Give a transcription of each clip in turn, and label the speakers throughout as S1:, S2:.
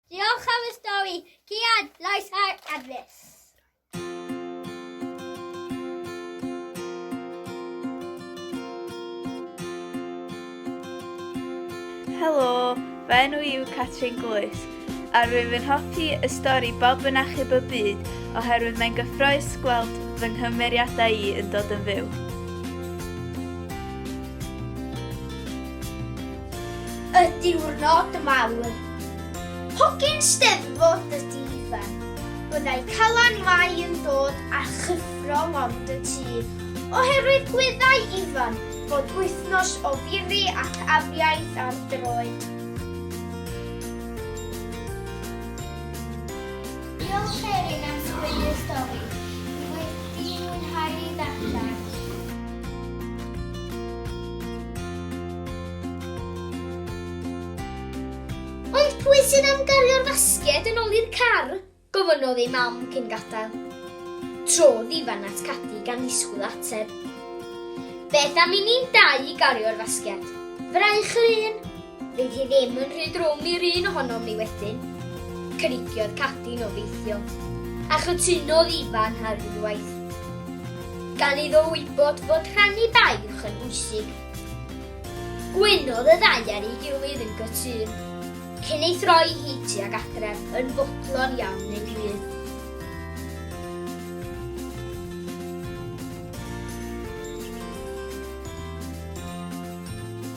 S1: Diolch am y stori, Cian, Lais ar Elvis. Helo, fy enw i yw Catrin Glwys, a rwyf yn hoffi y stori Bob yn Achub y Byd oherwydd mae'n gyffroes gweld fy nghymeriadau i yn dod yn fyw. Y diwrnod mawr. Hogyn Steddfod y Difa. Byddai Calan Mai yn dod â chyffro lond y tŷ, oherwydd gwyddai Ifan fod wythnos o firi ac afiaith ar droed. Diolch Erin am sgwennu'r stori. Dwi wedi mwynhau ei ddarllen. Ond pwy sydd am gario'r fasged yn ôl i'r car? gofynnodd ei mam cyn gadael. Trodd Ifan at Cadi gan ddisgwyl ateb. Beth am i ni'n dau i gario'r fasged? Fraich yr un! Fydd hi ddim yn rhy drwm i'r un ohonom ni wedyn, cynigiodd Cathy'n obeithiol, a chytunodd Ifan ar unwaith. Gan iddo wybod fod rhannu baich yn bwysig. Gwynodd y ddau ar ei gilydd yn gytûn, cyn ei throi hi tuag adref yn fodlon iawn ei hun.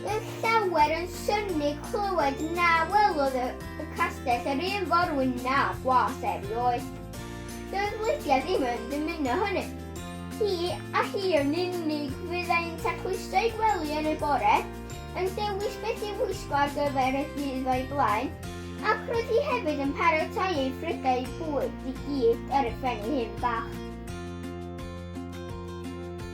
S1: Roedd llawer yn synnu clywed na welodd y castell yr un forwyn na gwas erioed. Doedd Lydia ddim yn dymuno hynny. Hi a hi yn unig fyddai'n tacluso ei gwely yn y bore, yn dewis beth i'w wisgo ar gyfer y dydd o'i blaen, ac roedd hi hefyd yn paratoi ei phrydau bwyd i gyd ar y phen ei hun bach.